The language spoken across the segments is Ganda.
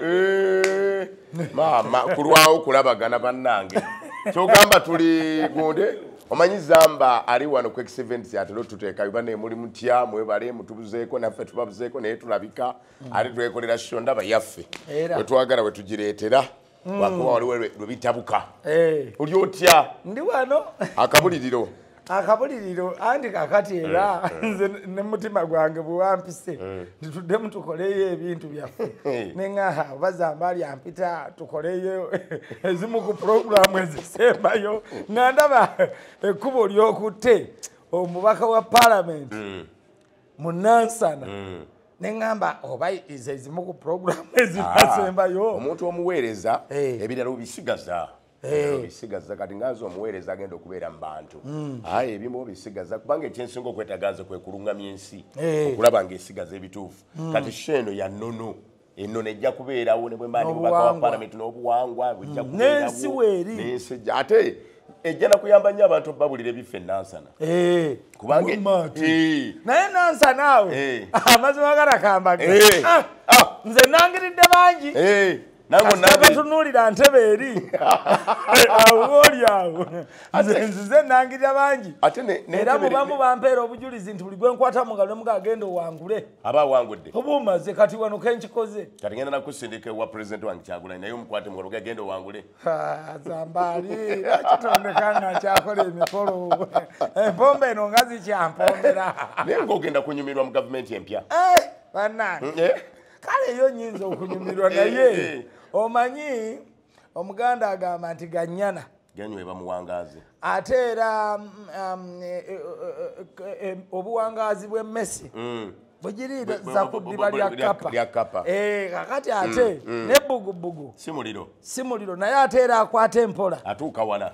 Eh, maama kulwawo kulabagana bannange kyogamba tuli gunde omanyi zamba ali wano ku exevents atera otuteeka biba naye muli mutya mwebale mutubuzeeko naffe tubabuzeeko naye tulabika mm. ate twekolera sho ndaba yaffe wetwagala wetugireetera hmm. wakuba waliwo lwe bitabuka eh. oli otya ndi wano akabuliriro akabuliriro andi kakati eh, era eh. nze nemutima gwange bwewampise eh. nituddemu tukoleyo ebintu byaffe neŋaha bazamba ali ampita tukoleyo ezimu ku puroguramu ezisembayo nga ndaba ekkubo lyokutte omubaka wa palamenti mm. mu nansana mm. ne ŋŋamba oba ize ezimu ku puroguramu ezinasembayo ah, omuntu omuweereza eh. ebirala obisigaza eh. obisigaza kati nganze omuweereza agenda okubeera mu bantu mm. aye ebimu obisigaza kubanga ekyensinga okwetaganze kwe kulungamya ensi eh. okulaba nga esigaza ebituufu mm. kati sheeno ya nono eno nejja kubeerawo nebwemba ndi mubaka wa palamenti n'obuwangwa bujja mm. kubeerawonensi weeri nensi ejja ate ejja nakuyamba nnyo abantu babulire biffe enansana eh, kubanga eh. naye nansana awo eh. amazima garakambage ah, ah. nze nangiridde bangi nangeatunuulira ntebe eri awooli awo nzize nangirira bangi era mubamu bampeera obujulizi nti buli gwenkwata mungalo nemuga agenda owangule aba awangudde oba omaze kati wano kenkikoze kati ngenda nakusindika ewa pulezidenti wange kyagulanyi naye omukwate mukolo gagenda owangule zambaali kitondeka nga nkyakola emikolo empomba eno nga zikyampombera naye ngaogenda kunyumirwa mu gavumenti empya eh, banange mm, eh? kale eyo nyinza okunyumirwa naye eh, omanyi omuganda agamba nti ganyana ganywa ebamuwangaaze ate era um, um, e, e, e, e obuwangaazi bw'emmesi mm. bwegiriira zakuddiba lyakapa eh, kakati ate mm, mm. nebbugubugu si muliro naye ate era akwata empola atuuka wala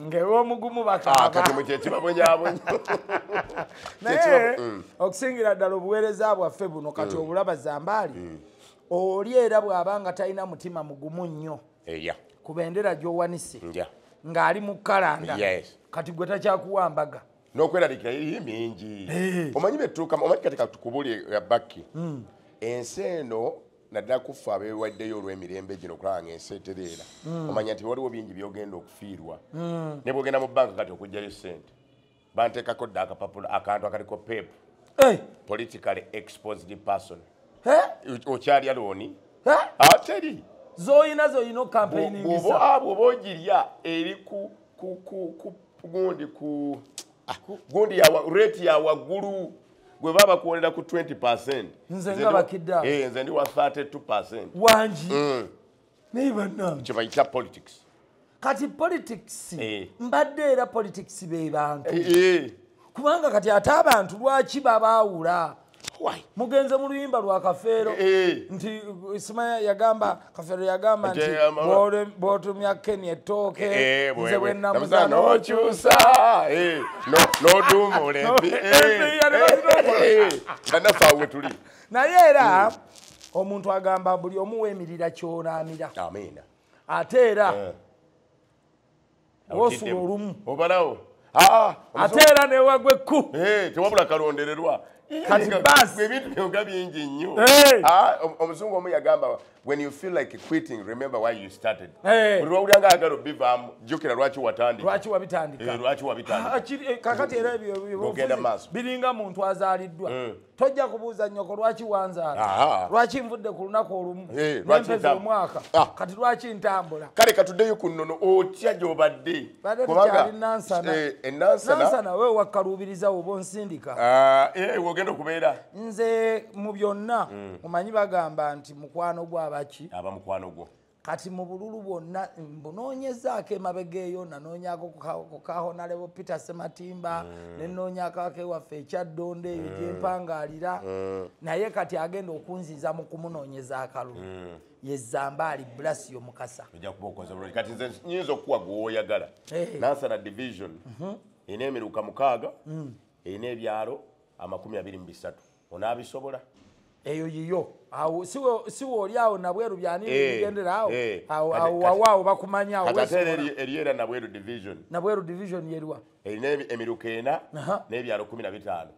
ngewomugumu bakakatimu ah, kyekibabonyabonya naye mm. okusingira ddala obuweereza bwaffe buno kati mm. obulaba zambaali mm. oli era bw'aba nga talina mutima mugumu nnyo ku bendera gy'owanise ng'ali mu kalanda kati gwe takyakuwa mbaga n'okweraliikira eri mingi eh. omanyi betuukamu omanyi kati katukubuli eh, bakki ensi eno naddala ku ffe abeewaddeyo olw'emirembe gino okulaba nga ensi etereera hmm. omanya nti waliwo bingi byogenda okufiirwa hmm. ne bwogenda mu banka kati okugjayo sente banteekako dda akapapula akantu akaliko pep eh! politically exposed person eh? okyalya looni eh? ateri ah, zoyina zoyina okampeyiningisa bwoba ogirya eri ku gundi ku ah, gundi yawa rate ya wagulu gwe baba kuwolera ku 20% nze nga bakida eh nze ndi wa 32% wanji mm. naye banange kye bayita politics kati politics eh. mbadde era politics be bantu eh, eh. kubanga kati ate abantu lwaki babaawula mugenze mu luyimba lwa kafeero eh, eh. nti simanya yagamba kafeero yagamba nti bwotumya keni ettooke eh, nze bwenamuza nokyusa nodumuleanasaa wetuli naye era hmm. omuntu agamba buli omu wemirira kyonaamira ate era osula olumu obalawo ah, ate era newagwa ekku eh, tewabula kalondererwa ebintu byoga bingi nnyo eh. ah, omuzungu omu yagamba when you feel like quitting remember why you started eh. buli wawulira nga ayagala obivaamu jjukira lwaki watandikakati era biringa muntu azaaliddwa hmm. tojja kubuuza nyoko lwaki wanzaala lwaki nvudde ku lunaku olumu eh, nempeza omwaka ah. kati lwaki ntambula kale katuddeyo ku nnono otya gyobadde kubangaenansana eh, eh, we wakkaluubiriza woba onsindika ah, wogenda okubeera nze mu byonna mm. omanyi bagamba nti mukwano gwo abaki aba mukwano gwo kati mu bululu bwonna mbunoonyezaako emabega eyo nanoonyako ku kahonalebo peter sematimba mm. nenoonyako akewaffe ekyaddondo eyo mm. gyempangaalira mm. naye kati agenda okunziza mu kumunoonyeza akalulu mm. yezambaali blasio mukasa kati nze nyinza okukuwa gwewoyagala hey. Eh. nansana division mm -hmm. erina emiruka mukaaga mm. erina ebyalo amakumi abiri mu bisatu onabisobola eyo yiyo awo siwe oli awo nabweru byanigendera awo eh, eh. awo wawaawo bakumanya awoeriera nabweru division nabweru division yeriwa erina emiruka ena n'ebyalo kumi na bitaano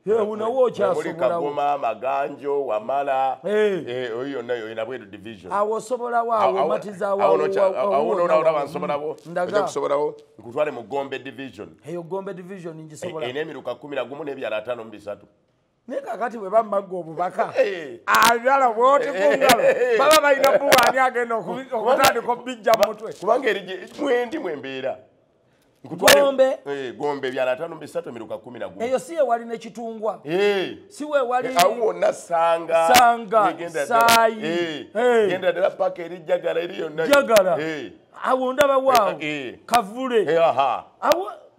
unawo okyasobolawogoma amaganjo wamala eh. oyo yonna yoyo nabweru division awo osobolawo awo omatizawoawononaolaba nsobolawo oja kusobolawo nkutwale mu gombe division eyo gombe division ngisobola erina emiruka kumi na gumu n'ebyalo ataano mu bisatu naye kakati bwe bamagga obubaka eh. abyala bwoti kungalo eh, eh, baba balina buwaani agenda okutandika obijja mumutwe kubanga eri mwendi mwembeera gombe eh, gombe byala tano bisatu miruka kumi na gumi eyo siye wali ne kitungwa eh. siwe wali eh, awo na sanga sanga genda sai eh. eh. genda dela paka eri jagala eri yonna jagala eh. awo ndaba wao eh. kavule eh, aha awo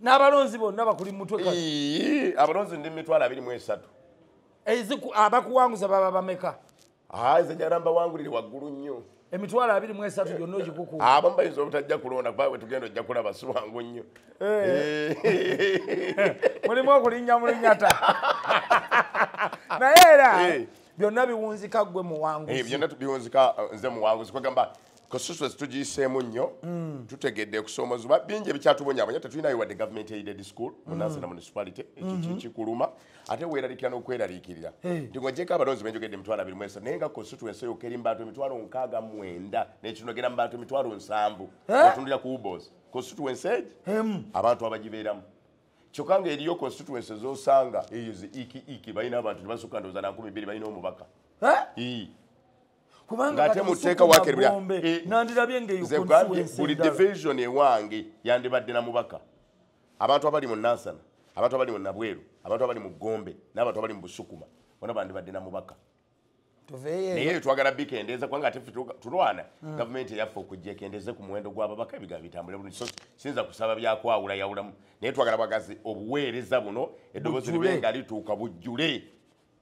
n'abalonzi bonna bakuli mutwe abalonzi ndi mitwalo abiri mu esatu abakuwanguza baba bameka nze jala mbawangulire waggulu nnyo emitwalo abiri mu esatu gyonna ogikuku abamu bayinza obutajja kulonda kuba wetugenda ojja kulaba si wangu nnyo eh. Eh. mulimu okulinnya mulinyata naye era eh. byonna biwunzika gwe muwanguzi byonna biwunzika nze muwanguzi kwegamba kasusu tugiyiseemu nnyo mm. tutegedde kusoomozi bingi ebikyatubonyabonya tetulinayo wadde government aided school mm. munansi na municipality mm-hmm. kikuluma ate weeraliikira n'okweraliikirira nti ng'ogyeko abalonzi benjogedde emitwalo abiri mwesa naye nga kasusu ensi yoka eri mu bantu emitwalo nkaaga mwenda nekinogera mu bantu emitwalo nsanvu otundira ku ubos constituency egi abantu abagibeeramu kyokka nga eriyo constituency zosanga eyo zi iki iki balina abantu tebasukka ndowooza na nkumi bbiri balina omubaka ngate muteeka wakerbira eh, buli division ewange yandibadde na mubaka abantu abali mu nansana abantu abali mu nabweru abantu abali mu gombe n'abantu abali mu busukuma bona bandibadde na mubaka naye twagala bikendeeza kubanga ate tulwana hmm. gavumenti eyaffe okujja ekendeeze ku muwendo gw'ababaka ebigambo bitambule bulungi so siyinza kusaba byakwawula yawulamu naye twagala bagazi obuweereza buno eddoboozi libe nga lituuka bujjule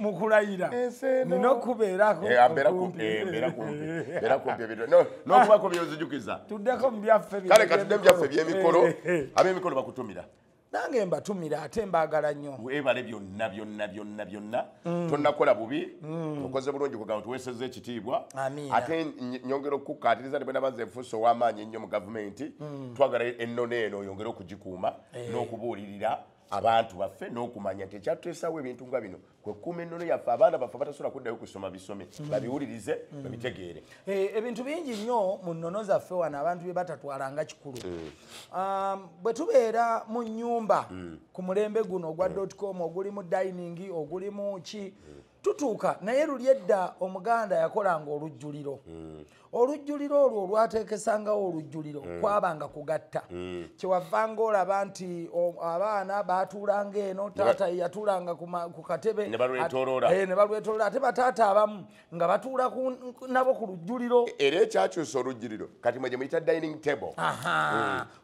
mukulayira nina okubeerako nokubako byozijukiza tuddeko mubyaffe kale katudde mubyaffe byemikolo abemikolo bakutumira nange mbatumira ate mbagala nnyo webale byonna byonna byonna byonna mm. tonakola bubi mm. okoze bulungi kugamba nti weseza ekitiibwa ate nyongera okukukatiriza nti bwenaba nze nfuusa ow'amaanyi ennyo mu gavumenti mm. twagala ennono eno oyongere okugikuuma eh. n'okubuulirira abantu baffe n'okumanya nti ekyatuteesawo ebintu nga bino kwe kukuuma ennono yaffe abaana baffe batasobola kuddayo kusoma bisome mm. babiwulirize mm. babitegeere eh, ebintu bingi nnyo mu nnono zaffe wano abantu bye batatwala nga kikulu mm. um, bwe tubeera mu nnyumba ku mulembe guno ogwa dotcom oguli mu dining oguli mu ki tutuuka naye luli edda omuganda yakolanga olujjuliro mm. olujjuliro olwo olwateekesangawo olujjuliro mm. kwabanga kugatta mm. kyewavanga olaba nti abaana baatuulanga eno taata yatuulanga ku katebe ne balwetoloola eh, ate bataata abamu nga batuula nabo ku lujjuliro e, era ekyakyusa olujjuliro kati mwe gye muyita dining table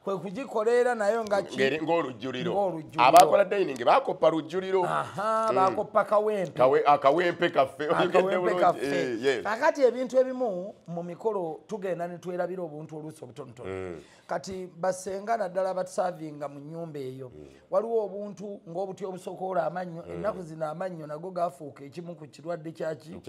kwe kugikola era nayo ngaolujjuliro abakola dining bakoppa lujjuliro hmm. bakoppa kawempe akawempe kaffe eh, kakati ebintu ebimu mu mikolo tugenda netwerabira obuntu oluusi obutonotono hmm. kati basenga naddala basavinga mu nyumba eyo hmm. waliwo obuntu ng'obuti obusokoola amannyo mm. ennaku zino amannyo nago gafuuka ekimu ku kirwadde kyaki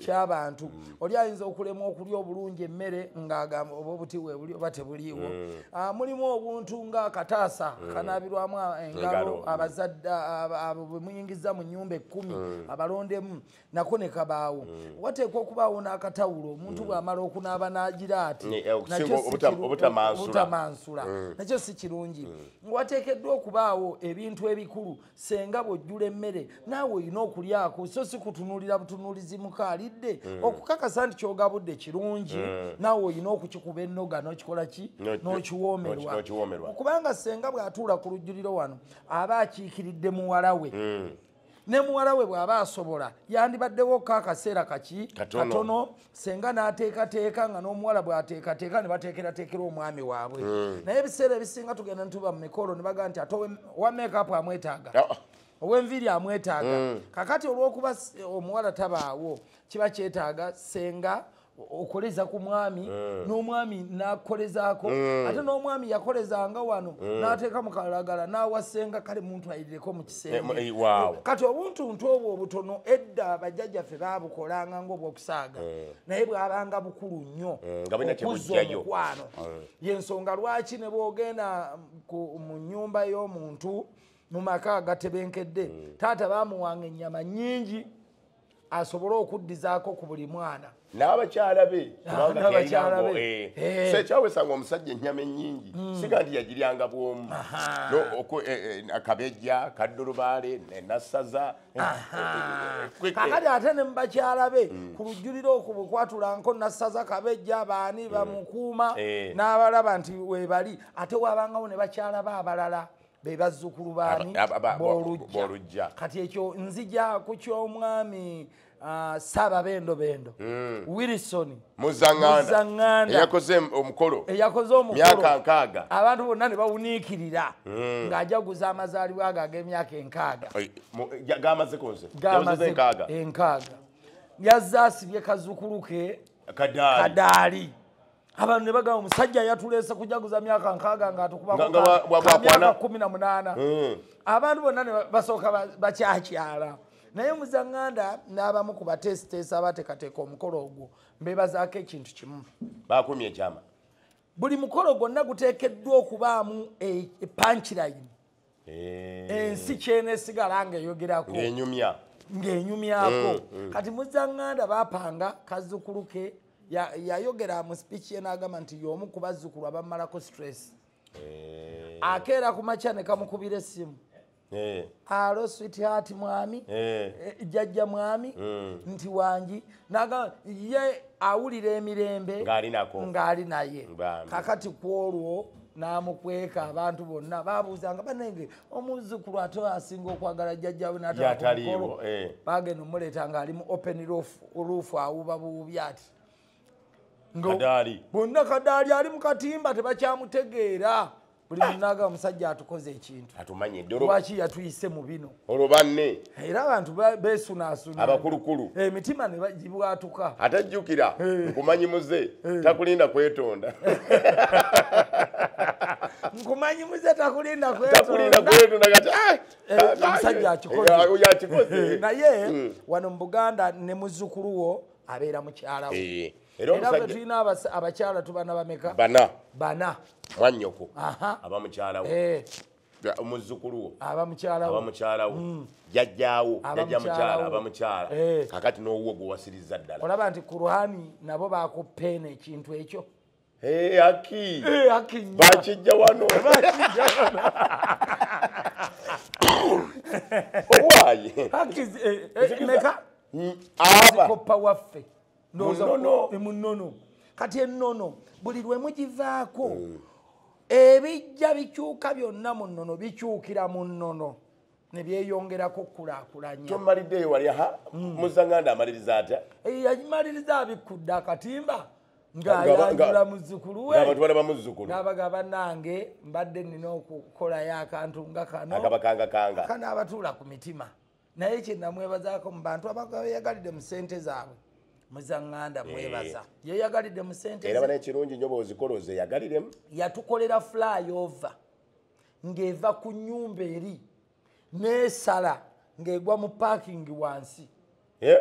ky'abantu mm. oli ayinza okulemwa okulya obulungi emmere ng'agamba oba obuti webuli oba tebuliiwo mm. ah, mulimu obuntu ng'akataasa kanaabirwamu engalo abazadde abo bwe muyingiza mu nnyumba ekkumi abalondemu nako ne kabaawo mm. wateekwa okubaawo n'akatawulo omuntu mm. bw'amala okunaaba n'agira ati eh, obutamansula mm. nakyo si kirungi wateekeddwa okubaawo ebintu ebikulu senga bw'ojjula emmere naawe olina okulyako so si kutunuulira butunuulizi muka alidde okukakasa nti kyogabudde kirungi naawe olina okukikuba ennoga n'okikola ki n'okiwoomerwa kubanga senga bw'atuula ku lujjuliro wano aba akiikiridde muwala we ne muwala we bw'aba asobola yandibaddewo ko akaseera kaki katono senga n'ateekateeka nga n'omuwala bw'ateekateeka ne bateekerateekera omwami waabwe hmm. naye ebiseera ebisinga tugenda nituba mu mikolo ne baga nti ate owa makeup amwetaaga ah, ah. ow'enviiri amwetaaga hmm. kakati olw'okuba omuwala tabaawo kiba kyetaaga senga okoleza ku mwami eh. n'omwami nakukolezaako eh. ate n'omwami yakolezanga wano eh. n'ateeka mu kalagala n'awasenga kale muntu ayirireko mu kisenge kati obuntuntu obwo obutono edda abajjajjaffe baabukolanga ngaobwokusaaga naye bwabanga bukulu nnyo okuzza omukwano yensonga lwaki ne bwogenda mu nnyumba y'omuntu mu maka agatebenkedde taata baamuwanga ennyama nnyingi asobole okuddizaako ku buli mwana n'abakyala be kubangakyalabe eh. eh. so ekyawesanga omusajja ennyama ennyingi hmm. siga nti yagiryanga bwomu eh, akabejja kaddulubaale nasaza kakati ate ne mubakyala be hmm. ku lujjulira oku bukwatulanko nasaza kabejja baani hmm. bamukuuma n'abalaba nti webali ate wabangawo ne bakyala be abalala be bazzukulu baani bolujja kati ekyo nzija ku ky'omwami ah, saaba bendobendo hmm. wilson muzangandaeyakoze omukolo eyakoze omumyaka nkaaga abantu bonna ne bawuniikirira hmm. ng'ajaguza amazaalibwa ago ag'emyaka enkaaga gamazekonze enkaaga enkaaga yazze asibye kazukulu ke kadaali abantu ne bagamba omusajja yatuleese kujaguza myaka nkaaga nga atukubamyaka kumi na munaana hmm. abantu bonna ne basooka bakyakyala naye muzanganda n'abamu ku bateesiteesi abateekateeka omukolo ogwo mbebazaako ekintu kimu bakumye ekyama buli mukolo gwonna guteekeddwa okubaamu epankilayini e, eh. ensi kyenesigala ngaeyogerako enyumya ng'enyumyako mm, mm. kati muzanganda bapanga kazukulu ke yayogera mu speech ye n'agamba nti y'omu ku bazzukulu abamalako stress eh. akeera ku makya ne kamukubira essimu eh. alo swithati mwami eh. jajja mwami mm. nti wangi naga ye awulira emirembe ng'ali naye kakati kwolwo namukweka abantu bonna babuuzanga banenge omuzukulu ate asinga okwagala jjajjawe natakolo eh. bagenda omuleeta ng'ali mu open roof awuba buwubi ati bonna kadaali ali mu katimba tebakyamutegeera buli munaga omusajja atukoze ekintu atumanyi doro waki yatuyise mu bino olwo banne era abantu besunaasuna abakulukulu eh, emitima ne bagibwatuka atajjukira eh. nkumanyi muze eh. takulinda kwetonda nkumanyi muze takulinda kwetonda omusajja akikoze naye hmm. wano mu buganda ne muzukulu wo abeera mukyalawo era omusajja tulina abakyala tubana bameka bana bana mwanyoko aba mukyala wo eh. omuzzukulu wo aba mukyala wo aba mukyala wo mm. jajjawo jajja mukyala aba mukyala eh. kakati n'owuwo gwe wasiriza ddala olaba nti kuruhani nabo bakupeena ekintu ekyo eh, aki bakijja wano owaye meka mm, azikoppa waffe munono eh, kati enono buli lwe mugivaako mm. ebijja bikyuka byonna mu nnono bikyukira mu nnono ne byeyongerako okukulakulanya tomaliddeyo wali ha mm. muzanganda amaliriza atya eh, yamaliriza abikkudde akatimba ng'ayanjula muzzukulu we abantu balaba muzzukulu n'abaga bannange mbadde nina okukolayo akantu nga kano akabakangakanga kana abatuula ku mitima naye kyenamwebazaako mu bantu abayagalidde mu sente zaabwe muzanganda eh. mwebaza yeyagalidde mu sente era bana ekirungi nyo bwozikola ozeyagaliremu yatukolera flyover ng'eva ku nyumba eri nesala ng'egwa mu parking wansi eh?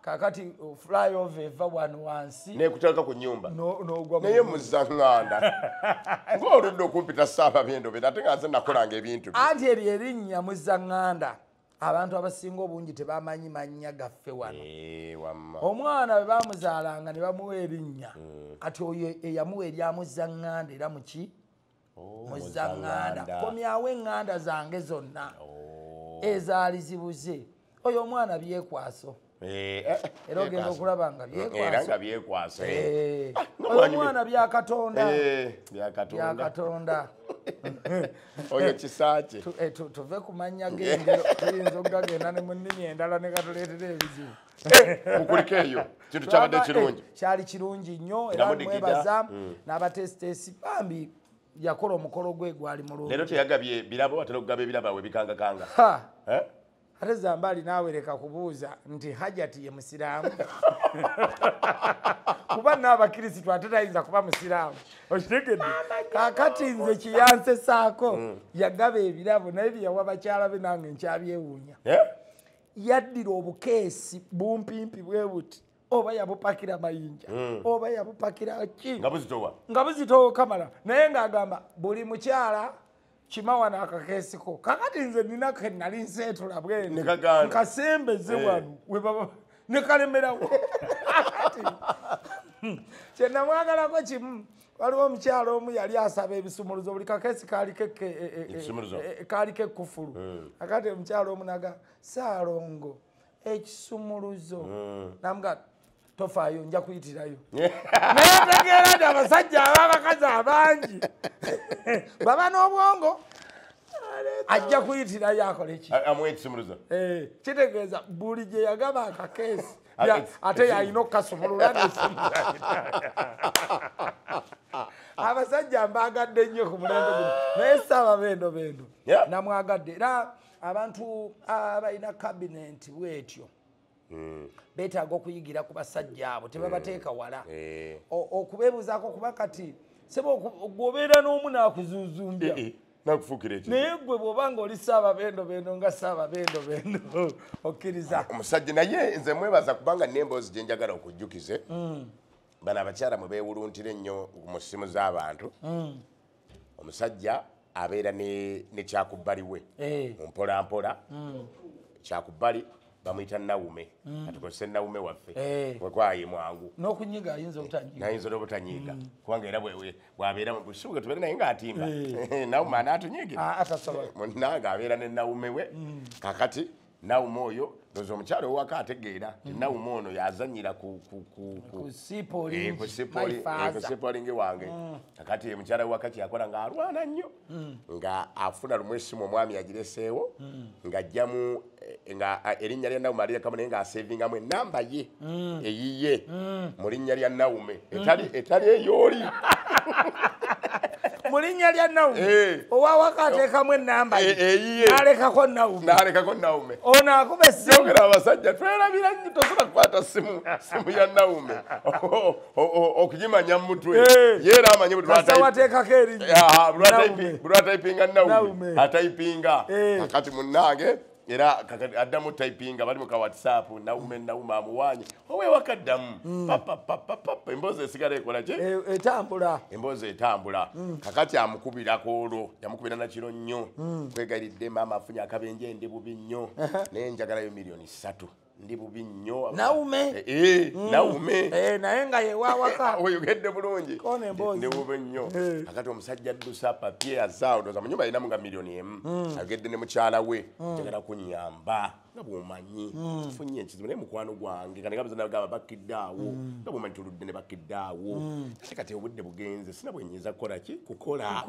kakati oh, flyover eva wano wansi nekuteka ku nyumba naye muzanganda ngaoludde okumpita saaba byendobe ate nga nze nakolanga ebintu anti eri erinnya muzanganda abantu abasinga obungi tebamanyi mannya gaffe wano eh, omwana bwe bamuzaalanga ne bamuwa erinnya mm. kati oyo eyamuwa eryamuzanganda era muki oh, muzaŋŋanda komyawo eŋŋanda zange zonna oh. ezaali zibuze oyo omwana byekwaso eh, eh, era ogenda okulaba nga byekwaso eh, oyo omwana byakatonda byakatonda oyo kisaakye tuve ku mannya gengero tuyinza okugagenda ne mu nnimi endala ne gatuleetera ebizibu mukulike eyo kintu kyabadde eh, kirungi kyali kirungi nnyo era mwebaza mm. n'abateesiteesi bambi yakola omukolo gwe gwali mulungi leero teyagabye birabo watera okugaba ebirabo awe bikangakanga eh? ate zambaali naawe leka kubuuza nti hajati ye musiraamu kuba naabakirisitu ate tayinza kuba musiraamu okitegedde kakati nze kiyansesaako mm. yagaba ebirabo naye byeyawa bakyala be nange nkyabyewuunya eh? yaddira obukeesi bumpimpi bwe buti oba yabupakira mayinja hmm. oba yabupakira ki nga buzitowa nga buzitowa kamala naye ng'agamba buli mukyala kimawa n'akakeesiko kakati nze nina ke nali nseetula bwene nkasembeze eh. wano webaba ne kalemerawo kyenamwagalako kimu waliwo omukyalo omu yali asaba ebisumuluzo buli kakesi kaali kekkufulu e, e, e, akati omukyalo omu naga saalongo ekisumuluzo namuga tofaayo nja kuyitirayo naye otegeera nti abasajja ababakazi abangi baba n'obwongo ajja kuyitirayo akoleki kitegeeza buli gye yagaba akakeesi ate yalina okukasumulula abasajja mbaagadde nnyo ku mulembe guno naye saaba bendo bendo namwagadde era abantu abalina kabinenti bwetyo Mm. betaaga okuyigira ku basajja abo tebabateeka mm. wala eh. okubebuzaako kuba kati sebe gwobeera n'omu naakuzuzumbya eh, eh. naye gwe bwoba nga oli saaba bendo bendo nga saaba bendo bendo okkiriza omusajja naye nze mwebaza kubanga nemboozi gyenjagala okujjukize mm. bano abakyala mwe bewuluntira ennyo mu ssimu z'abantu mm. omusajja abeera nekyakubbali we eh. mumpolampola mm. kyakubbali bamuyita nawume mm. atukozese nawume waffe eh. wekwaye mwangu nokunyiga ayinza obutanyigaayinza nobutanyiga mm. kubanga era bwabeera mubusuuga tubeere naye ngaatimba eh. nawume anaatunyige ah, munange abeera ne nawume we mm. kakati nawume oyo ndoza omukyalo owaka ategeera ti nawume ono yazanyira kusipolingi eh, wange kakati ye mukyala wewaka kyeyakola ngaalwana nnyo nga afuna lumu esimu omwami yagireseewo ngajjamu Eh, nga eh, erinnya lya naume alirekamu naye ngaasevingamu enamba ye mm. eyiye mm. mu linnya lya naume mm. etali eyooli mu linnya lya naume eh. owawaka ateekamu enamba yealekako naumnalekako naume ono akuba esimu yogera abasajja twerabira nyo tosobola kukwata simu simu ya naume okugimanya mumutwe eh. yeera amanyi bwatwatekako erinybwatayipinga naume atayipinga eh. akati munange era addamu typinga bali muka whatsapp naume nauma amuwanye owewakaddamu mm. emboozi esigala ekola ki e, etambula emboozi etambula mm. kakati amukubirako olwo yamukubira nakiro nnyo mm. kwegaridde maama afunye akabenje ndi bubi nnyo naye njagalayo miliyoni satu ndi bubi nnyo naume eh, eh, mm. naume eh, naye nga yewawaka oyogedde bulungi ndi bubi nnyo akati omusajja addusa papye azaawo ndoza munyumba yinamu nga milioni emu mm. ayogedde ne mukyala we mm. njagala kunyamba nga bwomanyi funye ekizibu naye mukwano gwange kanegabazanagamba bakidde awo nga bwomanyi tuludde ne bakidde awo ate kati obudde bugenze sina bwenyinza kukola ki kukola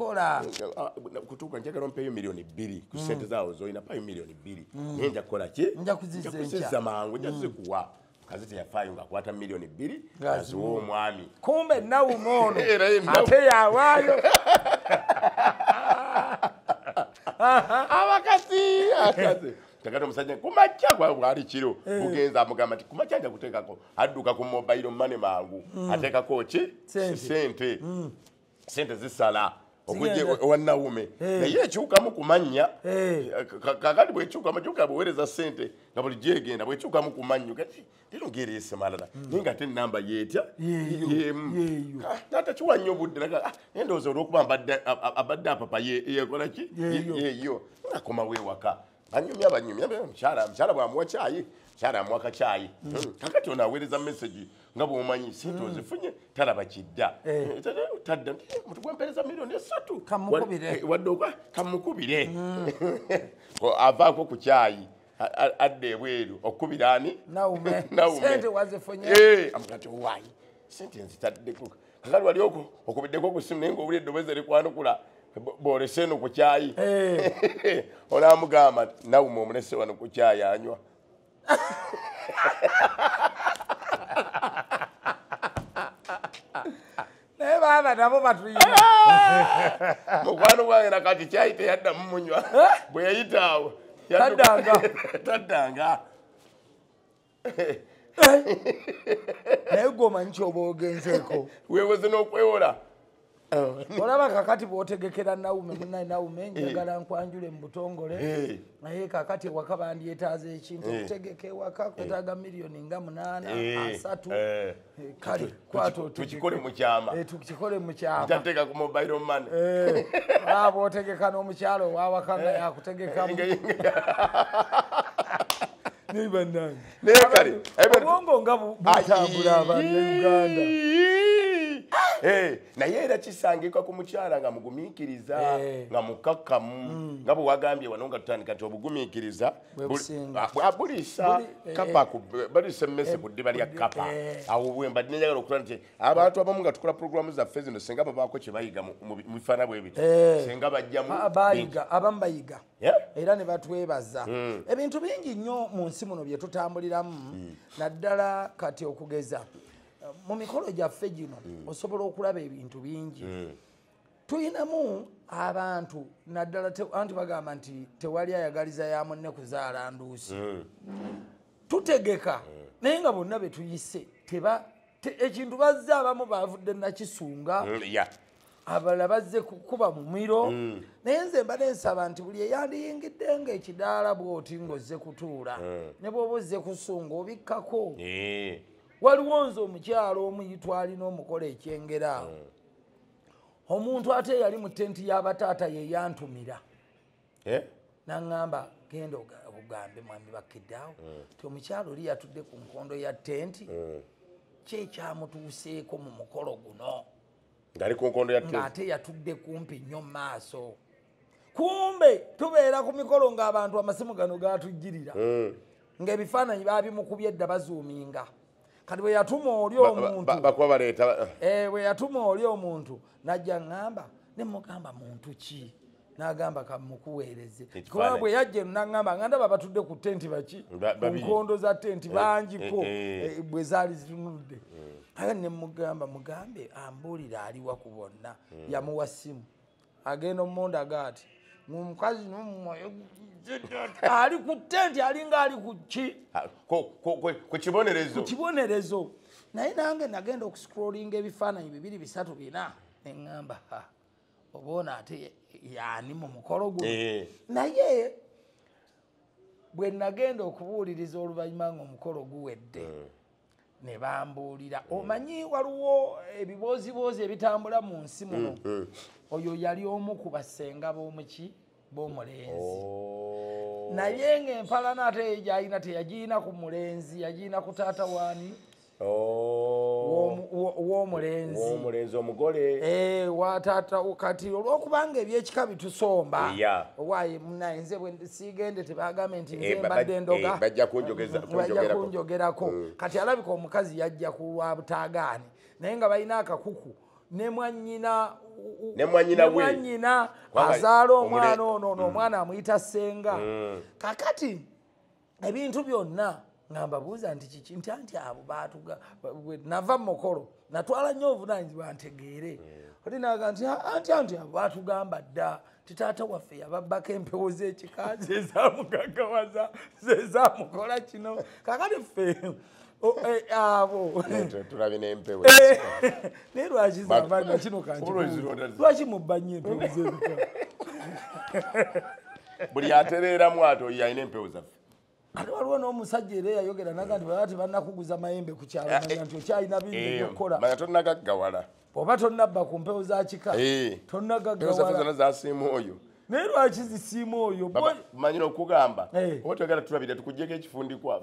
kutuuka njagala ompeeyo milioni bbiri ku sente zaawo zolina payo milioni bbiri mm. naye nja kukola ki nja kuziza mangu nja mm. zikuwa kazi teyafaayo ngaakwata miliyoni bbiri aziwa omwami kumbe nawuma ono ate yawaayo abakazi akazi tagata omusajja kumakya bwali kiro eh. bugenza amugamba nti kumakya nja kuteekako adduka ku mobile mane mangu mm. ateekako ki sente mm. sente zisala owanawume eh. naye ekyukamu kumanya eh. eh, kakati bwekyukamu kyoka bwewereza sente nga buli gyegenda bwekyukamu kumanyo kati tirugera esemalala hmm. naye nga ate enamba yetya yemu natakiwa nnyo obudde naye ah, ndowooza olwokuba abadde apapa yekolaki yeyo akomawo ewaka banyumya banyumya mukyala mukyala bwamuwa kyayi mukyala amuwa kakyayi mm. hmm. kakati ono aweereza mesagi nga bwomanyi sente mm. ozifunye talaba kidda eh. Eh, tadda eh, mutu gwampereza miliyoni esatu wadde ogwa kamukubire mm. avaako ku kyayi adda ebweru okukubira ani nawume sente wazifunye amugati owayi sente nzitaddekuka kakati wali okubiddeko ku simu naye ngaowuli eddoboozi erikwanukula bwolese eno ku kyayi eh. olamugamba nawuma omulese wano ku kyayi anywa naye baaba nabo batuyina mukwano gwange nakati kyayi teyaddamu munywa eh? bwe yayitaawo taddanga naye gwe omanyi kyoba ogenzeeko wewoze n'okwewola oh. olaba kakati bwotegekera naume munaye naume eh. njagala nkwanjule mu butongole eh. naye kakati ewaka bandyetaaza ekintu eh. okutegeka ewaka kwetaaga miliyoni nga munaana asatu tukikole mukyamatukikole eh, mukyamatateka ku mobile money eh, aba otegeka n'omukyalo owawakanga eh. yakutegekamu naye bannange naye kale obwongo nga butambula abanna uganda Eh, naye era kisangika ku mukyala nga mugumiikiriza eh. nga mukakkamu mm. nga bwewagambye wano nga tutandika nti obugumiikiriza buliisa kapa baliisa emmese ku ddiba lya kapa awo bwemba dinenjagala okutula nti abantu abamu nga tukola pulogulaamu zaffe zino singa babaako kye bayiga mu bifaana bwe biti singa bajjamubayiga abamu bayiga era ne batwebaza hmm. ebintu bingi nnyo mu nsi muno bye tutambuliramu hmm. naddala kati okugeza mu mikolo gyaffe gino hmm. osobola okulaba ebintu bingi tulinamu abantu naddala anti bagamba nti tewali ayagaliza ya munne kuzaala nduusi hmm. tutegeka hmm. naye nga bonna betuyise teba ekintu bazze abamu bavudde nakisunga hmm, abala bazze kukuba mumiro mm. naye nze mba nensaba nti buli eyandiyingidde nga ekidaala bwoti ngaozze kutuula mm. ne bwoba ozze kusunga obikkako eh. waliwo nze omukyalo omuyitwalina omukola ekyengera awo mm. omuntu ate eyali mu tenti y'abataata ye yantumira eh? naŋŋamba genda ogambe mwami bakkiddaawo hmm. ti omukyalo oli yatudde ku nkondo ya tenti hmm. kyekyamutuuseeko mu mukolo guno ng'ate yatudde kumpi nnyo mu maaso kumbe tubeera ku mikolo ng'abantu amasimu gano gatujjirira hmm. ng'ebifaananyi baabimukubye edda bazuuminga kati bwe yatuma oli omuntubakuba baleeta eh, bwe yatuma oli omuntu najja ŋŋamba ne mugamba muntu ki n'agamba kamukuweereze kuba bwe yajja eno n'aŋŋamba nga ndaba batudde ku tenti baki ku nkondo za tenti eh, bangiko eh, bwe zaali zitunudde hmm. aga ne mugamba mugambe ambuulire aliwa ku bonna hmm. yamuwa ssimu agenda omunda gaati omukazi ali ku tenti alinga ali kuki ah, ku kibonerezo kibonerezo naye nange nagenda okuscrollinga ebifaananyi bibiri bisatu bina neŋamba oba ono ate yani mu mukolo guno eh. naye bwe nagenda okubuuliriza oluvannyuma ngaomukolo guwedde eh. ne bambuulira omanyi waliwo ebibooziboozi ebitambula mu nsi muno mm, mm. oyo yali omu ku basenga b'omuki b'omulenzi oh. naye ng'empalana ate yegyalina teyagirina ku mulenzi yagirina ku taata waani oh. w'omulenzi omugole eh, watata kati olw'okubanga ebyekika bitusomba owaye munaye nze sigende tebagambye nti eh, nzembadde ndogabajja eh, kunjogerako mm. kati alabika omukazi yajja kulwa butagaani naye nga balina akakuku ne mwanyina nemwanyina azaala omwana ono mm. nomwana amuyita senga mm. kakati ebintu byonna nga mbabuuza nti kiki nti anti abo baatuga nava mu mukolo natwala nnyo obuvunanyizibwa ntegeere hmm. oli naga nti anti anti abo baatugamba dda nti taata waffe yababbako empewo z'ekika zezamugagawaza zezamukola kino kakati ffe Eh, abo tulabe nempewo eh, naye lwaki zamanya kino kanlwaki mubbanye empewo zebika buli atereeramu ati oyo alina empewo zaffe kati waliwo n'omusajja era eyayogera naga nti baba tebanakuguza mayembe ku kyalo eh, manya eh, nti okyalina bingi eh, byokukola manya tonnagaggawala oba tonnabba ku mpewo za kika tonnagaggawala zasiima oyo naye lwaki zisiima oyo manyira okugamba oba toyagala tulabire tukugyeko ekifundikwa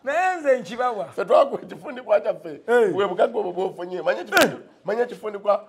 naye nze nkibawa fetwaku ekifundikwa kyaffe webugagga obwo bwofunye manya ekifundikwa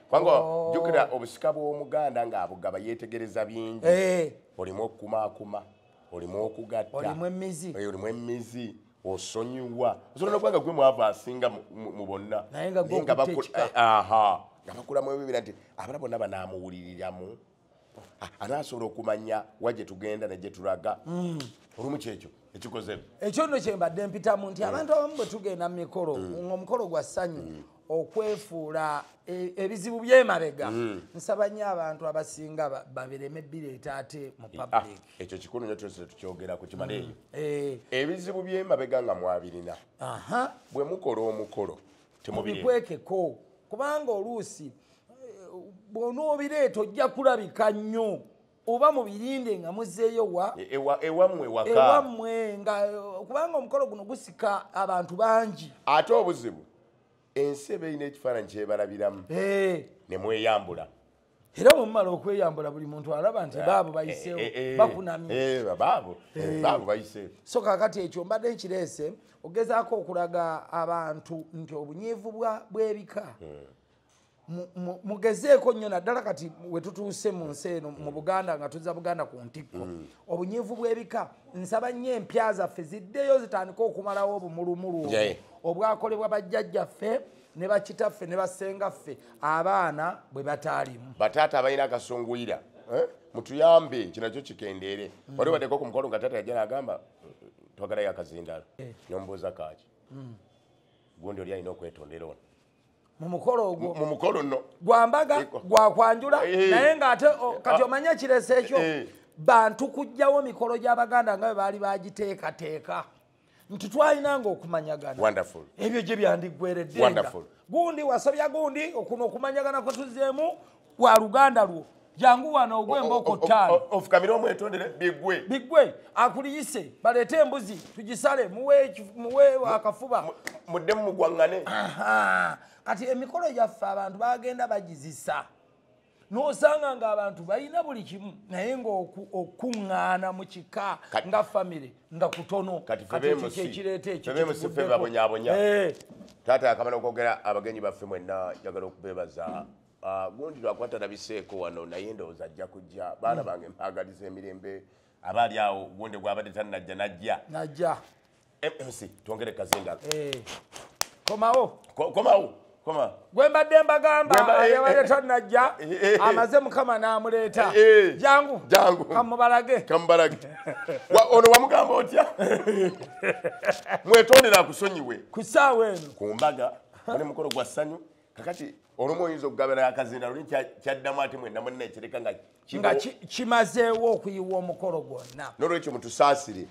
kubanga oh. jukira obusika bw'omuganda ng'abugaba yeetegereza bingi eh. olimu okukumaakuma olimu okugatta olimu emizi eh, osonyiwa osobola nokubanga gwe mwava asinga mu bonna naye nga bakulamu ebibira nti abala bonna banamuwuliriramu ah, anasobola okumanya wa gye tugenda ne gye tulaga mm. olumu kyekyo ekikoze ekyo nno kye mbadde mpitamu nti mm. abantu abamu bwe tugenda mu mikolo mm. ng'omukolo gwa ssanyu okwefuula e, ebizibu byemabega mm. nsaba nyo abantu abasinga babireme bireeta ate mu ah, public ekyo kikulu nyo tuese tukyogera ku kimala eyo mm. eh. ebizibu byemabega nga mwabirina bwe mukola omukolo temubikwekeko kubanga oluusi bw'onoobireeta ojja kulabika nnyo oba mubirinde nga muzeeyo wa e, ewamwe wakaewamwe nga kubanga omukolo guno gusika abantu bangi ate obuzibu ensi eba erina ekifaananyi kyebalabiramu ne mweyambula era bwemumala okweyambula buli muntu alaba nti baabo bayiseewo eh, eh, eh, bakunamyebaabo bayiseewo so kakati ekyo mbadde nkireese ogezaako okulaga abantu nti obunyiivu bw'ebika hmm. mugezeeko nnyo naddala kati wetutuuse mu nsi eno mu buganda nga tuza buganda ku ntikko mm. obunyiivu bw'ebika nsaba nnyo empya zaffe ziddeyo zitandike okumalawo obumulumulu obwakolebwa bajjajjaffe ne bakitaffe ne basengaffe abaana bwe bataalimu bataata abalina akasunguyira eh? mutuyambe kinakyo kikendeere mm. wali wadeko ku mukolo nga taata yajja nagamba twagalayo akazindalo eh. nombuuza kaaki mm. gundi oli alina okwetondera ono mumukolo ogwo mumukolo no gwambaga gwakwanjula eh. naye nga ate kati ah. omanya kiresa ekyo eh. bantu kujjawo mikolo gy'abaganda nga bwe baali bagiteekateeka nti twalinanga okumanyagana ebyo gye byandiggweredde gundi wasobya gundi okuno okumanyagana kwe tuzeemu wa luganda lwo jangu wano ogwe emboko ttaano ofukamire omwetondere bigwe bigwe akuliyise baleete embuzi tugisale muwe akafuba muddemu mugwaŋŋane kati emikolo gyaffe abantu bagenda bagizisa nosanga nga abantu balina buli kimu naye nga okuŋŋaana mu kika nga famire nga kutono katiekyekireeta ekyobabonyabonya eh. taata yakamala okwogera abagenyi baffe mwenna jagala okubebaza Ah, gundi lwakuba talabiseeko wano naye ndowooza ajja kujja baana bange mpaagaliza emirembe aba ali awo gundi gwabadde tannajja najja najja mc twongere kazinga eh, komawo komawo koma gwe mbadde mbagamba eh, eh, yabadde tannajja amaze mukama n'amuleeta jangu jangu kamubalage kamubalage ono wamugamba otya mwetondera akusonyiwe ku ssaawa eno ku mbaga oli mukolo gwa ssanyu kakati olumu oyinza okugabira akazinda luli kyaddamu ate mwena munna ekireka nga nga kimazeewo okuyiwa omukolo gwonna nolwekyo mutusaasire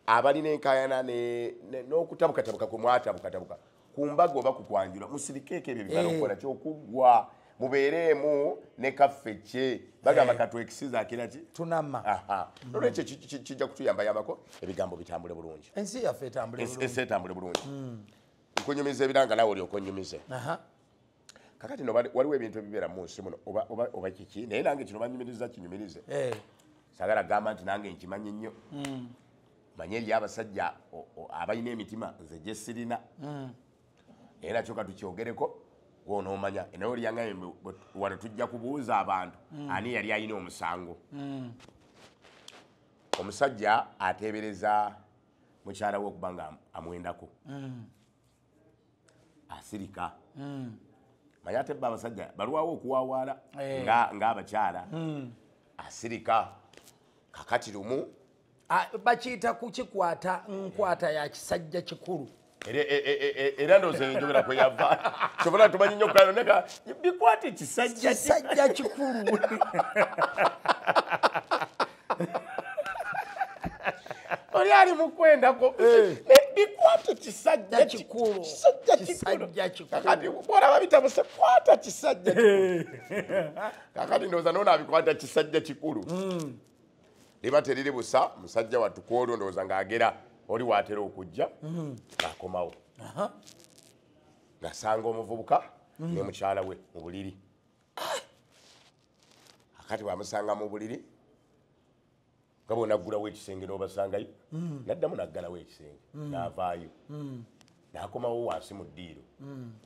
abalina enkayana n'okutabukatabuka kwe mwatabukatabuka ku mbaga oba ku kwanjula musirikeeko ebyo bibala eh. okukola kyokuggwa mubeereemu ne kaffe kye bagamba eh. katwekisiza akira ki tunama nolwekyo kijja kutuyambayambako ebigambo bitambule bulungi ensi yaffe etambule bulungi hmm. nkunyumiza ebiranga nawe olyoka onyumize kakati no waliwo ebintu ebibeera mu nsi muno oba kiki naye nange kino banyumiriza kinyumirize eh. sagala gamba nti nange nkimanyi nnyo hmm. manye eriyo abasajja abalina emitima nze gyesirina hmm. naye nakyo katukyogereko gwonomanya naye olyangaye wano tujja kubuuza abantu hmm. ani yali alina omusango omusajja ateebereza mukyala we okuba nga amwendako mm. asirika mm. manye ate ba abasajja balwawo okuwawaala eh. ngaabakyala mm. asirika kakati lumu bakiyita kukikwata nkwata ya kisajja kikulu era ndowooza enjogera kwe yava kyobola tumanyi nyo kulayo neka bikwata ekisajja kisajja kikulu oli ali mukwendako eh. bikwata ekisajja kikulu kakati olaba bitabuse kwata kisajja kakati ndowooza noonabikwata kisajja kikulu hmm. liba teriri busa musajja wattu kwolwo ndowooza ng'agera oli waatera okujja mhm. ng'akomawo ng'asanga omuvubuka mhm. ne mukyala we mu buliri ah! akati bwamusanga mu buliri nga bonaggulawo ekisenge n'obasangayo mhm. naddamu naggalawo ekisenge n'avaayo n'akomawo wansi mu ddiiro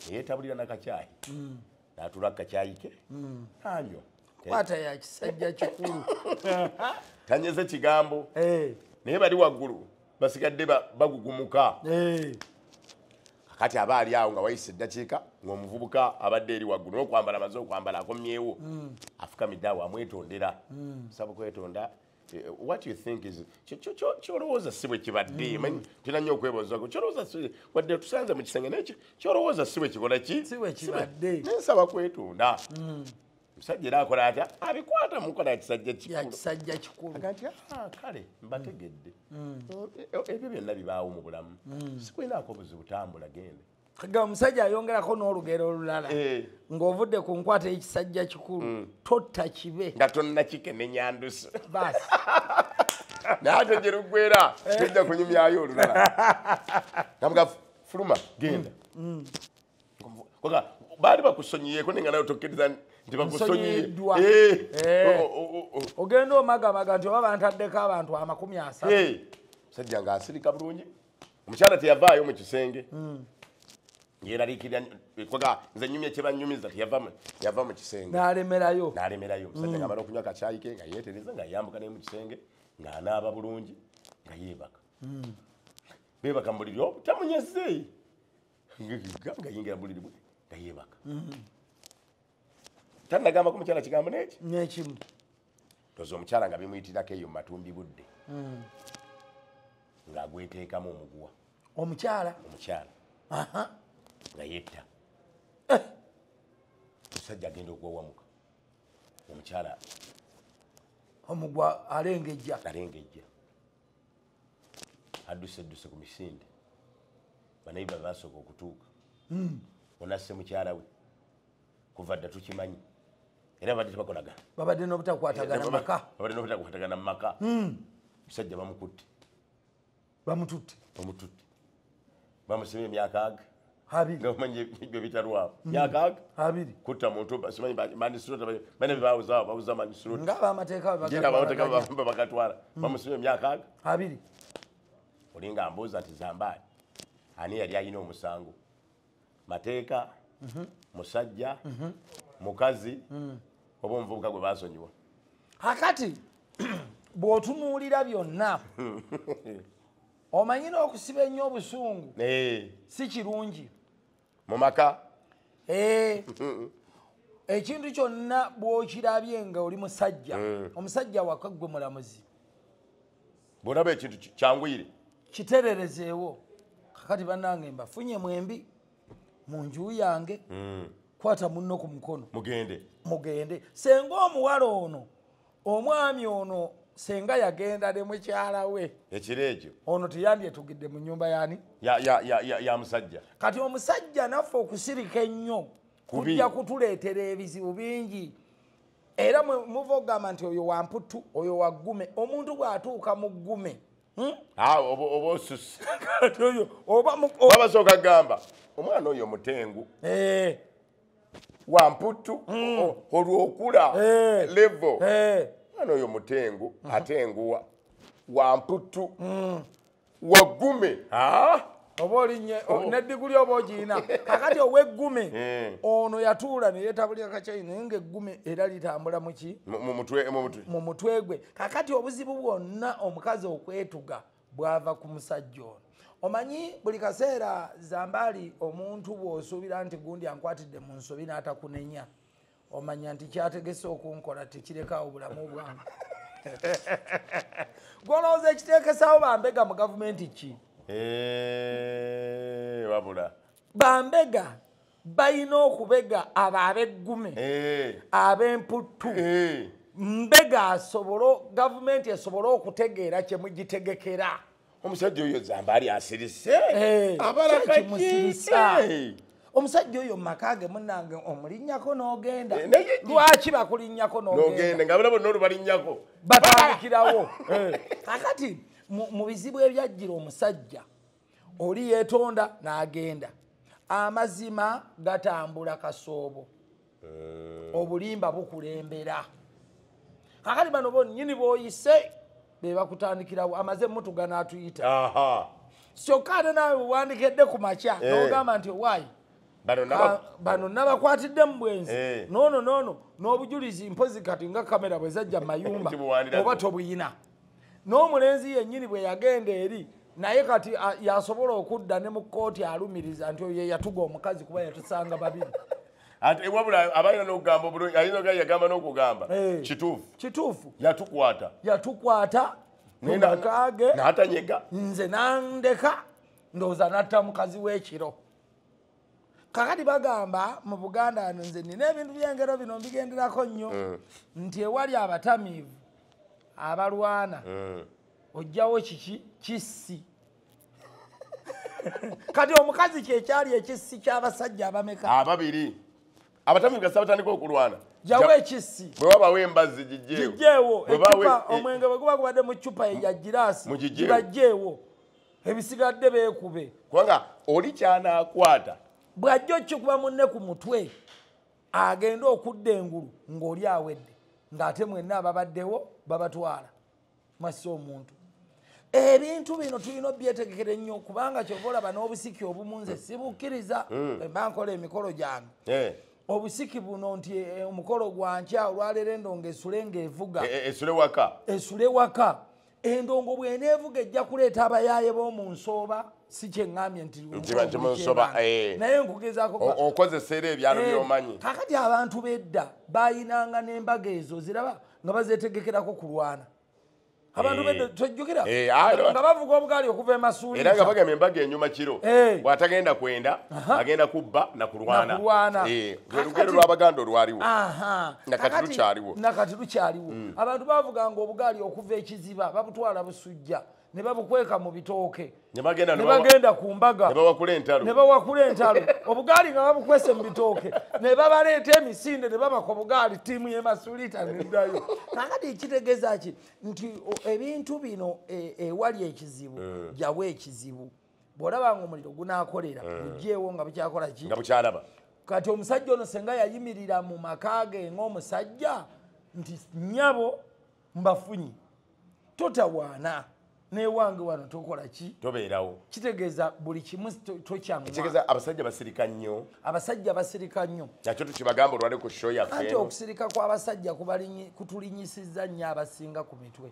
eyetabulira nakakyayi natula kakyayike anywa kwata ya kisajja kikulu tanyeze kigambo eh. naye bali waggulu basigadde bagugumuka eh. kati aba ali awo nga wayise eddakiika ng'omuvubuka abadde eri waggulu nokwambala amaze okwambala akomyewo hmm. afukamidde awo amwetondera hmm. saba okwetonda Eh, what you think is kyolowooza si bwe kibadde mm. tuna nnyo okwebuuzaku kyolowooza wadde tusanze mu kisenge nekyo kyolowooza si bwe kikola ki nensaba kwetunda mm. omusajja era akola atya abikwata mukola yakisajja kikisajja kikulu agati ah, kale mbategedde mm. eh, eh, ebyo byonna bibaawo mu bulamu sikulinaako obuzibu tambula gende ga omusajja ayongerako n'olugero olulala eh. ng'ovudde ku nkwata ekisajja kikulu mm. totta kibe nga tonnakikenenyandusu basi naye ate gye luggwera eh. tujja kunyumyayo olulala namuga fuluma genda mm. Mm. baali bakusonyiyeko naye nga nayo tokkiriza nti bakusonyiye eh. ogenda omagamaga nti oba bantaddeko abantu amakumi asatu sajja ngaasirika bulungi omukyala teyavaayo mu kisenge hmm. yeraliikirira kwaga nze nyumya kyebanyumiza yava mu kisenge nalemerayo nalemerayo omusajja hmm. ngamala okunywa kakyayi ke nga yetereza nga yambuka naye mu kisenge ng'anaaba bulungi nga yeebaka hmm. beebaka mu buliri obutamunyazze oh, nga yingira mu buliri bwe nga yeebaka tanagambako mukyala kigambo neki nekimu toza omukyala nga bimuyitirako eyo matumbi budde hmm. ng'agweteekamu omuguwa omukyala omukyala nga yetta eh! omusajja agenda okuwawamuka omukyala omugwa alengejja alengejja adduse dduse ku misinde banayiba basooka okutuuka hmm. onasse mukyala we kuva dda tukimanyi era babadde tebakolagana babadde n'obutakwatagana eh, mumaka babadde n'obutakwatagana mumaka hmm. musajja bamukutte bamututte bamututte bamusibye emyaka aga abiri nga omanyi ebyo bitalwawo hmm. myaka aga abiri kutta muntu simanyi manisirota bane bebawuzawo bawuza manisirota nga abamateeka bagatwala hmm. bamusibye emyaka aga abiri olinga mbuuza nti zambaali ani yali alina omusango mateeka mhm. musajja mhm. mukazi mm. oba omuvubuka gwe basonyiwa akati bw'otunuulira byonna omanyi n'okusiba ennyo obusungu eh. si kirungi mu maka eh. ekintu kyonna bw'okirabye nga oli musajja mm. omusajja wakaggwe mulamuzi bwolaba ekintu kyangwire kitererezeewo kakati banange mbafunye mwembi mu nju yange mm. kwata munno ku mukono mugende mugende senga omuwala ono omwami ono senga yagenda ne mukyala we ekiro ekyo ono teyandyetugidde mu nyumba yani ya musajja kati omusajja naffe okusirika ennyo kujja kutuleetera ebizibu bingi era muva okugamba nti oyo wamputu oyo waggume omuntu bw'atuuka mu ggume hmm? ah, oba osusi obabasooka gamba omwana oyo mutengu eh. wamputu hmm. olwokula eh. levo eh. omwana oyo mutengu hmm. atenguwa wamputu wagume oba olinye oh. nediguli oba ogiina kakati oweggume eh. ono yatuula neyetabulira kakyayi naye nga eggume era litambula muki mu mutwe gwe kakati obuzibu bwonna omukazi okwetuga bwava ku musajja ono omanyi buli kaseera zambaali omuntu bwosuubira nti gundi ankwatidde mu nsobi n'atakunenya omanya nti kyategese okunkola tekirekawo bulamu bwange gwolowooza ekitekesawo bambega mu gavumenti ki eh, wabula bambega balina okubega abo abeggume eh. abemputtu eh. mbega asobole gavumenti esobole okutegeera kyemugitegekera omusajja oyo zambaali asirise eh, abalakakimusirisa eh. omusajja oyo mumaka ge munange omulinnyako n'ogenda eh, lwaki bakulinnyako nogenda nga balabo nolubalinnyako batandikirawo kakati mu bizibu ebyajjira omusajja oli yeetonda n'agenda amazima gatambula kasoobo eh. obulimba bukulembera kakati bano bonyini boyise bebakutandikirawo amaze mutugana atuyita kyokka ate nawe wewandikedde ku makya eh. nogamba nti owaayi bano nabakwatidde mu bwenzi eh. nono nono n'obujulizi mpozi kati nga kamera bwezajja mu mayumba oba tobuyina n'omulenzi yennyini bwe yagenda eri naye kati yasobola okudda ne mu kkooti alumiriza nti oyo yeyatuga omukazi kuba yatusanga babiri ate wabula abalina nokugamba obulungi ayina oga yagamba nokugamba eh. kituufu kituufu yatukwata yatukwata mukage natanyega nze nandeka ndowooza natta mukazi w'ekiro kakati bagamba mu buganda ano nze nina ebintu byengero bino mbigenderako nnyo mm. nti ewali abatamiivu abalwana mm. ojjawo kiki kissi kati omukazi kyekyali ekissi kyabasajja abameka ababiri abatamiivu gasa batandika okulwana jawo ekissi bwe wabawo embazi gijjeewo omwenge bwe guba gubadde mu cupa ya giraasi gibajjeewo ebisigadde beekube kubanga oli kyanaakwata bw'ajja okikuba munne ku mutwe agenda okudda engulu ng'oli awedde ng'ate mwenna ababaddewo babatwala mwassa omuntu ebintu bino tulina obyetegekere nnyo kubanga kyova olaba n'obusiki obumu nze sibukkiriza hmm. emba nkola emikolo gyange eh. obusiki buno nti eh, omukolo gwankya olwaleero endonga esule ng'evuga eh, esule waka esule waka endongo bweneevuga ejja kuleeta abayaaye b'omu nsooba si kyeŋambye ntinayengugezako era ebyalo eh, byomanyi kakati abantu bedda bayinanga n'embaga ezo ziraba nga bazetegekerako kulwana abantu eh. bedda tojjukira eh, nga bavuga obugaali okuva emasuuliera nga bagamba embaga enyuma kiro bw'atagenda kwenda agenda kubba nakulwana lwelugero lwabaganda olwaliwo nakati lukyaliwo nakati lukyaliwo mm. abantu bavuganga obugaali okuva ekiziba babutwala busujja ne babukweka mu bitooke ne bagenda ku mbaga ne bawakula entalo obugaali nga babukwese mu bitooke ne babaleeta emisinde ne babaka obugaali ttiimu yemasulita nedayo kakati ekitegeeza ki nti ebintu bino e, ewali ekizibu eh. jawo ekizibu bw'olaba nga omuliro gunaakolera eh. gugyewo nga bukyakola ki nga bukyalaba kati omusajja ono senga yayimirira mu maka ge ng'omusajja nti nyabo mbafunyi totawaana newange wano tokola ki tobeerawo kitegeeza buli kimu tokyamutegeeza abasajja basirika nnyo abasajja basirika nnyo nakyo tukibagamba olwale ku sho yaffe anti okusirika kw'abasajja kutulinyisizza nnyo abasinga ku mitwe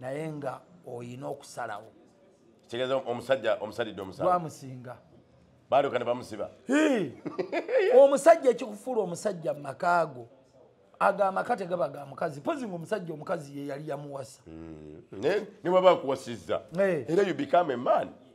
naye nga oyina okusalawo kigeza omusajja omusalidde omusalwamusinga baaluka ne bamusiba omusajja ekikufuula omusajja mu makaago aga amaka tegaba ga mukazi pozi nga omusajja omukazi ye yali yamuwasa hmm. niwaba akuwasizza era you become a man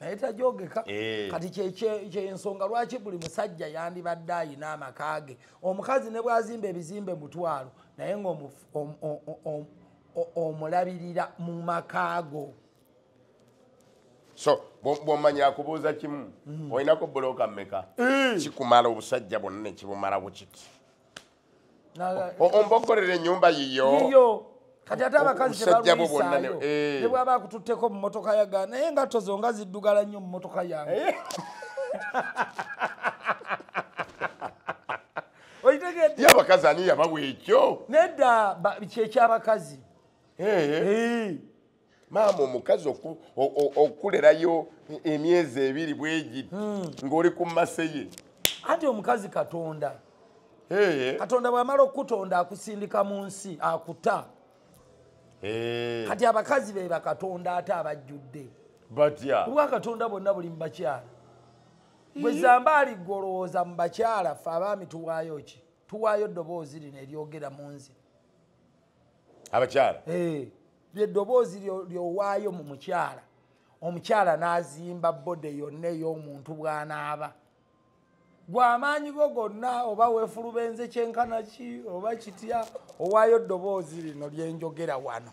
naye tajogeka eh. kati kyensonga lwaki buli musajja yandibadde ayina amaka ge omukazi ne bwazimba ebizimbe mutwalo naye nga omulabirira mu maka go so bwomanya akubuuza kimu mm. olinako buloka meka eh. kikumala obusajja bwonna nekibumala bukiti ombogolera enyumba yiyo kati ate abakazi tebalwisaayo eh. ne bwaba akututteko mu motoka yaga naye engatto zo nga ziddugala nnyo mu motoka yange eh. okitegedde abakazi ani yabawa ekyo nedda kyekyabakazi eh. maama omukazi okukulerayo emyezi ebiri bwegiti hmm. ng'oli ku mase ye anti omukazi katonda katonda bwamala okukutonda akusindika mu nsi akuta kati abakazi be bakatonda ate abajjudde kubwa katonda bonna buli mubakyala gwezambaali golowooza mu bakyala fe abaami tuwaayo ki tuwaayo ddoboozi lino eryogera mu nze abakyala eh, eddoboozi lyowaayo mu mukyala omukyala n'azimba bode yonna ey'omuntu bw'anaaba gwamaanyi go gonna oba weefulubenze kyenkana ki oba kitya owaayo ddoboozi lino lyenjogera wano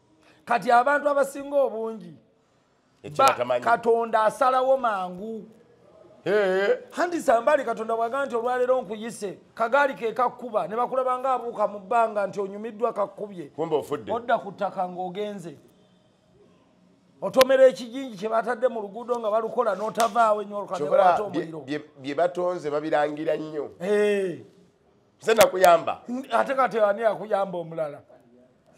kati abantu abasinga obungi katonda asalawo mangu hanti sambali katonda bwagaa nti olwaleero nkuyise kagaali kekakkuba ne bakulaba nga abuuka mu bbanga nti onyumiddwa kakkubye odda ku ttaka ng'ogenze otomera ekijinji kye batadde mu luguudo nga balukola n'otavaawo enyoolukabye batonze babirangira nnyo nze nakuyamba ate kati ani akuyamba omulala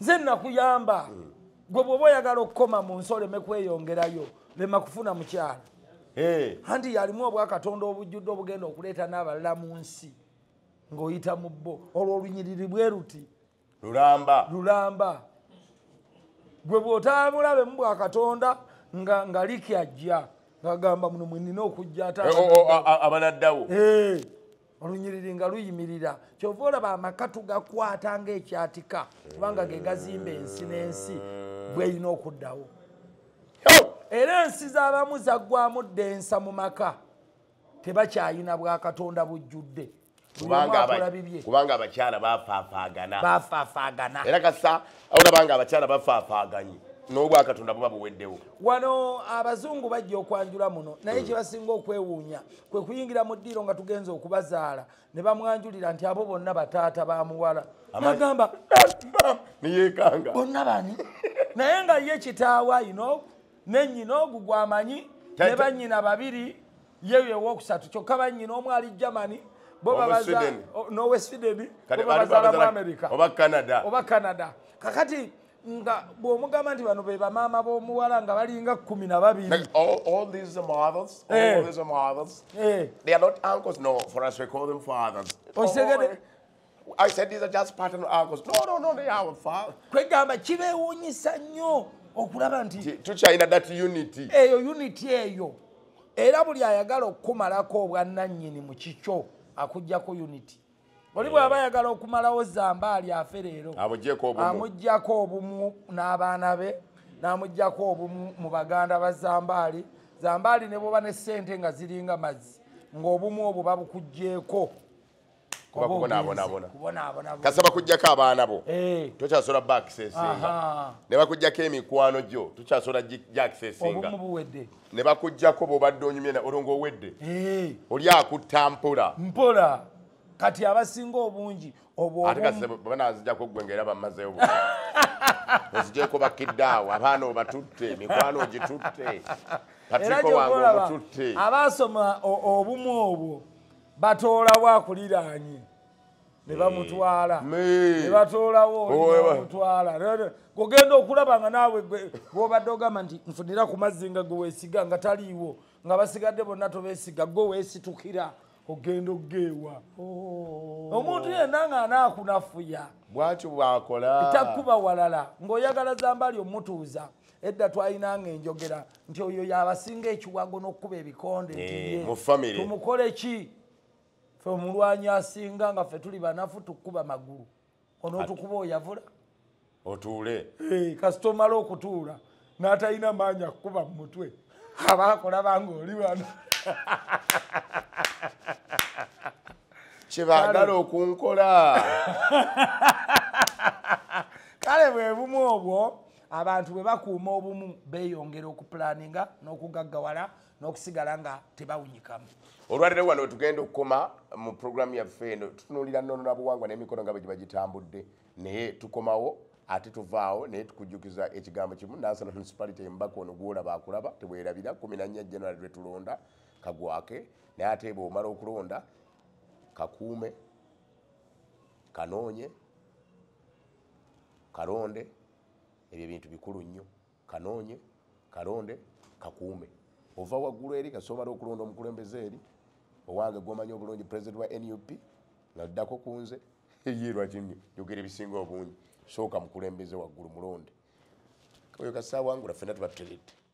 nze nakuyamba hmm. gwe bwoba oyagala okukoma mu nsi oleme kweyongerayo lema kufuna mukyala anti yalimu obwakatonda obujjudde obugenda okuleeta n'abalala mu nsi ng'oyita mu bo olwo olunyiriri bwe luti lulamba lulamba gwe bw'otaamulabe mu bwa katonda nga nga liki ajja ng'agamba muno mwe nina okujja ate eh, oh, oh, abanaddawo eh, olunyiriri nga luyimirira kyova olaba amaka tugakwata ng'ekyatika kubanga ge gazimba ensi n'ensi bweyina okuddawo era ensi z'abamu zaggwamu ddensa mu maka tebakyayina bwakatonda bujjudde kubanga abakyala bafafaagana bafafaagana era kasa olabanga abakyala bafafaaganye n'obwakatonda buba buweddewo wano abazungu bajja okwanjula muno naye hmm. kyebasinga okwewuunya kwe kuyingira mu ddiiro nga tugenza okubazaala ne bamwanjulira nti abo bonna bataata ba muwala nagamba neyekanga bonna bani naye nga ye kitaawa ino ne nyina ogu gwamanyi ne banyina babiri yeyo ewokusatu kyokka banyina omu ali germany nowe sweden bobabazala mu america oba canada kakati nga bwomugamba nti bano bebamaama bomuwala nga balinga kumi na babiri I said these are just pattern uncles. No, no, no, they are far. Kwegamba kibewunyisa nnyo okulaba nti tukyalina that unity. Eyo unity eyo. Era buli ayagala okukumalako obwannannyini mu kikyo akuggyako unity. Oli bw'aba ayagala okumalawo zambaali afe leero. Amuggyeko obumu. Amuggyako obumu n'abaana be. N'amuggyako obumu mu baganda ba zambaali. Zambaali ne bwoba ne ssente nga ziringa mazzi. Ng'obumu obwo babukuggyeeko. kuba kubonaabonabona kasaba kujjako abaana bo eh. tokyasobola ba akisesinga ne bakujjako emikwano gyo tokyasobola gya akisesinga ne bakujjako bobadde onyumye olwo ngaowedde eh. oli akutta mpola mpola kati abasinga obungi obwobanazijako gwe ngaera bamazeyo ozijeko bakiddaawo abaana obatutte emikwano ogitutte patriko wange omututte abaasoma obumu obwo batoolawo akuliraanye ne eh, bamutwala ne batoolawo olimutwala ogenda okulaba nga naawe gwobadde ogamba nti nfunira ku mazzi nga gwe weesiga nga taliiwo nga basigadde bonna tobeesiga gwe weesitukira ogenda okugeewa oh. omuntu yenna nga anaakunafuya bwatyo bwakola takkuba walala ng'oyagala zambali omutuuza edda twalinanga enjogera nti oyo yabasinga ekiwago n'okukuba ebikonde eh, tumukole ki fe omulwanyi asinga nga fe tuli banafu tukukuba magulu onotukuba oyavula otuule eh, kasita omala okutuula n'atalina maanyi akukuba mu mutwe aba akolabanga oli wano kyebaagala okunkola kale bwe bumu obwo abantu bwe bakuuma obumu beeyongera okupulaninga n'okugaggawala n'okusigala nga tebawunyikamu olwaliro wano tugenda okukoma mu puroguramu yaffe eno tutunuulira nono na buwangwa n'emikono nga bwe giba gitambudde naye tukomawo ate tuvaawo naye tukujjukiza ekigambo kimu nansana municipality embaka ono gwolaba akulaba tebwerabira kumi nannya general lwe tulonda kagwake naye ate bwomala okulonda kakuume kanoonye Kalonde, ebyo ebintu bikulu nnyo. Kanoonye, kalonde, kakuume. Ova waggulu eri kasita obala okulonda omukulembeze eri owange gwomanyi obulungi president wa nup nga ddako ku nze ye lwaki njogera ebisinga obungi sooka mukulembeze waggulu mulonde oyo kasita awangula fena tuba tutegedde